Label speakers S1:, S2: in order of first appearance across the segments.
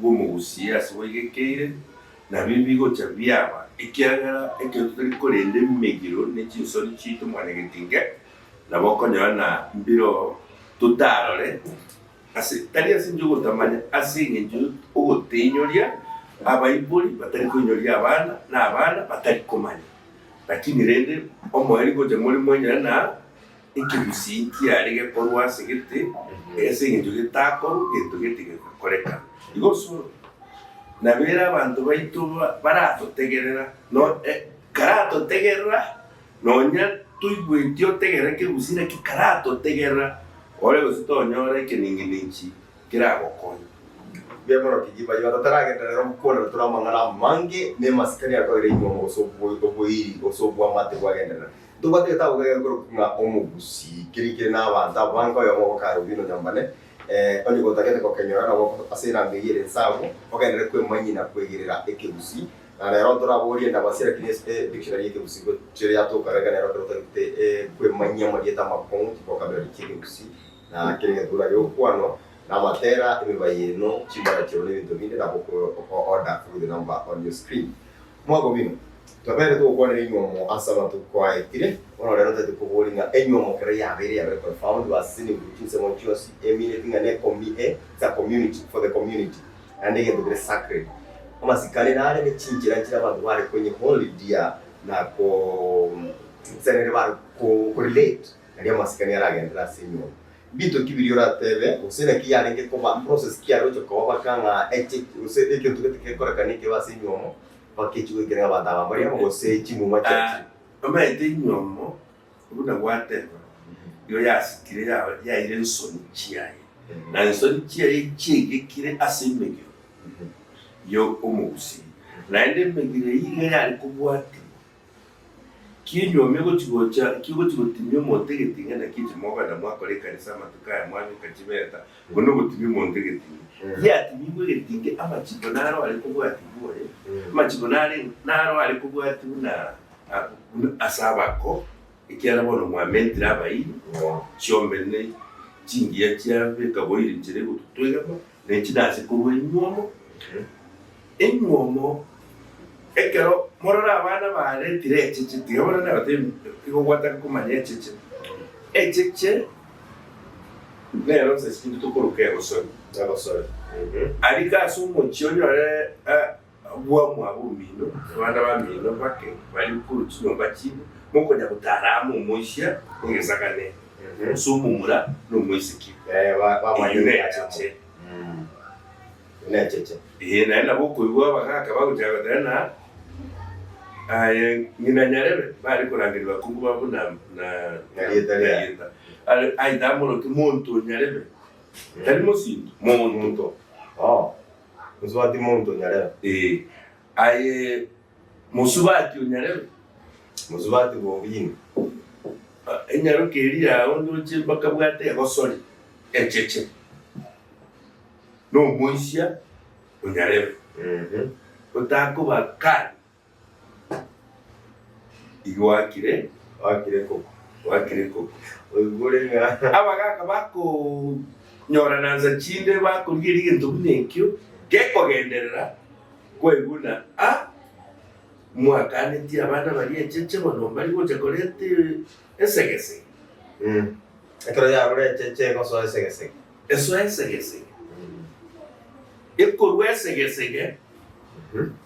S1: bw'omogusie ase bwaigekeire, nabio mbigocha biaba, ekiagera ekero totari korenda emegiro ne chinsori chiaito mwanyagetinge, nabo okonyora na mbiro totarore, ase tari ase enchera y'ogotamanya, ase engencho y'ogotenyoria abaibori batari koinyoria abana, na abana batari komanya, lakini rende omoerio gocha more mwenyora na. Ekegusii nkiare gekorwa ase gete, erio ase engencho getakorwa gento gete gegakoreka. Igo osore, nabere abanto baito baratotegerera, no, eh, karatotegerera, nonya toigweti otegerera ekegusii naki karatotegerera ore gose tonyora ekenengenechi keragokonya. Gekorokio
S2: ki baria bataragenderera rero gokwanana tore amang'ana amange nemasikani akoeire inyuomo gose oboiri gose obwamate bwagenderera? Ntobwate gete abwo egere korokwa ng'a omogusii, keria kere n'abanto abo bange, oyomo ogokara obino nyambane, onye gotagete gokenyora nabo ase erango eyio ere ensagu, ogenderere kwemanyina kwegerera ekegusii, na nero ntore abwo oriende abasii, lakini ase e dictionary y'ekegusii gochire yatoka iga nero ekero otagete kwemanyia amarieta amakong'u, chivokabulari chi'ekegusii, na kera egetuura gi'okwano, na amatera, emibayeeno, chimbara chiao na ebinto binde, nabo oko order through the number on your screen. Mwabo bino, tobeerete gokwanera inwe omo ase amatuko aetire, bono rero totete koboria ng'a enywe omo kera yabeire yabeire confound verse ase niguru chinsemo chionsi e mineti ng'a ne comi e za community for the community naende egento bire sacred amasikani nare ne chinchera nchire abanto bare konye holy dear na ko nse nere bare ko relate naria amasikani aragenderere ase enyomba Binto ki biria orateebe, gose naki yarenge koba process ki yaroche koba baka ng'a eche gose egento gete gekoreka ne ekebe ase enywomo baka echi goikera ng'a abanto aba mbari amo gose chimuma chiachire? Omanyete
S1: enywomo buna gwateeba, nigo yasitire ya- yaire ensoni chiaye, na ensoni chiaye chiaigekire ase emegiro ya omogusiri, naende emegiro eyio iga yare kobwatigwa. Kinyuomie gochi-gocha, kigochi-gotimia omonto egeting'a, naki inche mogwena mwakora ekanisa amatuko aya, mwanyoka chibeta, igo nogotimia omonto egeting'a. Yatimigwe egetinga, amachiko naro are kobwatigwa oye, amachiko nare naro are kobwatia buna buna ase abako, ekiagera bono mwamentire abairi, chiombene chingiya chiabe, ekaboiri chire gototoigama, Ne chinase korwa enyuomo enyuomo, ekero morore abana baaretire echeche, tiga bono nabatebie, tiga ogwataka komanya echeche, echeche nero nsa chinto tokoroka egosori, aria ase omochie onyore. Agwo amo ab'omino nabande abamino bake baria korwa chinyomba chibo, mokonya gotara amo omoisia negesakane, gose omomura nomoiseke,
S2: eyio necheche. Ee, naende nabo okoigwa
S1: abagaaka bagochaka gotenena, Aye ng'ina nyarebe, bare korangeria bakungu babo na narieta riaye. Aye tamorokia monto o nyarebe, tari mosinto, monto.
S2: Mosubati monto onyarebe. Ee, aye
S1: mosubati onyarebe. Mosubati
S2: bobina.
S1: Enyaroke eria yao ndoche bakabwate egosori echeche. Nomoisia onyarebe. Otakoba kari. Igwakire, gwakire koko, gwakire koko. Oigure
S2: ng'a abagaka
S1: bakonyoranansa chinde bakorigeria egento buna ekio gekogenderera kwaigwa ng'a ah, mwakanetie abana baria echeche bono mbari gocha koreta esegese. Eh.
S2: Ekero yarure echeche egosoa esegesege. Esoa esegesege.
S1: Ekorua esegesege.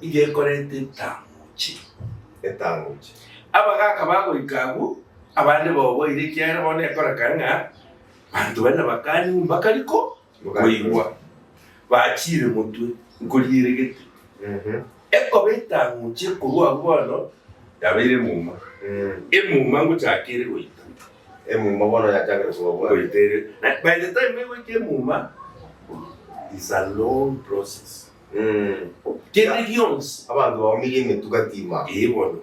S1: iga ekorete etang'uche. Etang'uche. Abagaaka bagoika abwo, abande baoboire, ekiagera bono nekorekana ng'a banto bane bakanywa mbaka riko koigwa bachiire motwe nkorieregete. Ekoba etang'uche korwa abwo bono yabeire emuma. Emuma ngochaka ere goita. Emuma bono
S2: yachakire koba bwango. Goita ere. By
S1: the time egoika emuma is a long process. kende gionsi. Abanto baumirie emetuga
S2: tima. Ee bono.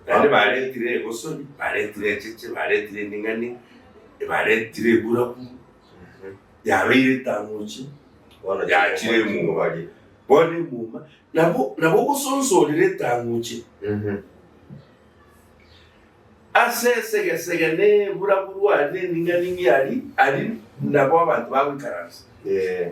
S1: Naende baretire egosori, baretire echeche, baretire emeng'ani, baretire eburabu, yabeire etamochi, Bono yachire timomochi emuma. baria. Bono emuma, nabo nabo ogosonsa orire etamochi. Ase esegesege na eburabu rwari na emeng'ani ng'ia ari, aria nabo abanto bagoikaransa. Ee.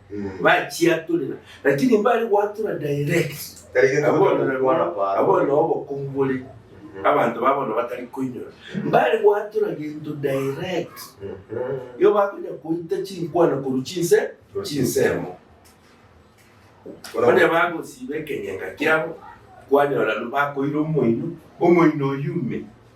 S1: bachiatorera, lakini mbare goatora direct. Tari gento Abwo batari nabo- gokwana paro. abwo nabo obokungu bore abanto babo bono batari koinyora mbare goatora gento direct igo bakonya koita chinkwana korwa chinse chinsemo onye bagosiba ekenyeka kiabo kwanyora bakoira omoino omoino oyume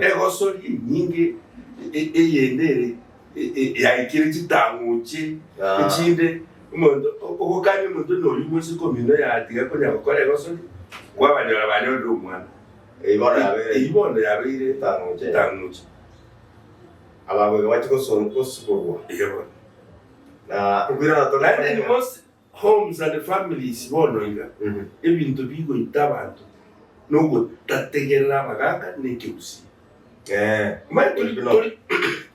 S1: Egosori enyinge eyende ere yaikire chitang'uche echinde. Omonto ogokania omonto noyio moise komino oyatiga konya gokora egosori, kwabanyora banyorire omwana, eyio bono yabeire chitang'uche. Ababwo iga bache gosiborwa. Naende inwe mose Homes and families bono iga ebinto bigoita abanto nogotategerera abagaka na ekegusii. Mbae tori tori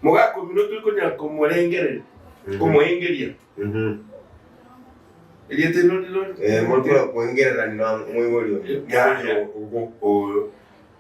S1: mogaka omino tori konyara komorengereria komoengeria erieta eriro riri riri. Mori kora koengerera
S2: ng'a moibori oyo, moibori
S1: ogo.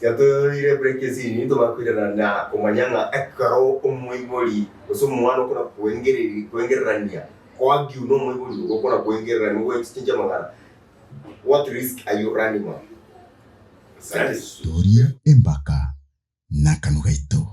S2: Tiatoiroreire ebureki esini, intwe bakoirana na komanya ng'a ekero omoibori gose omwana okona kwengereria kwengererania koagiu na omoibori oria okona kwengererania ogoe chichingi amang'ana, what risk are you running on? Satis.
S3: Toria
S2: empaka
S3: na
S2: akanwa gaito.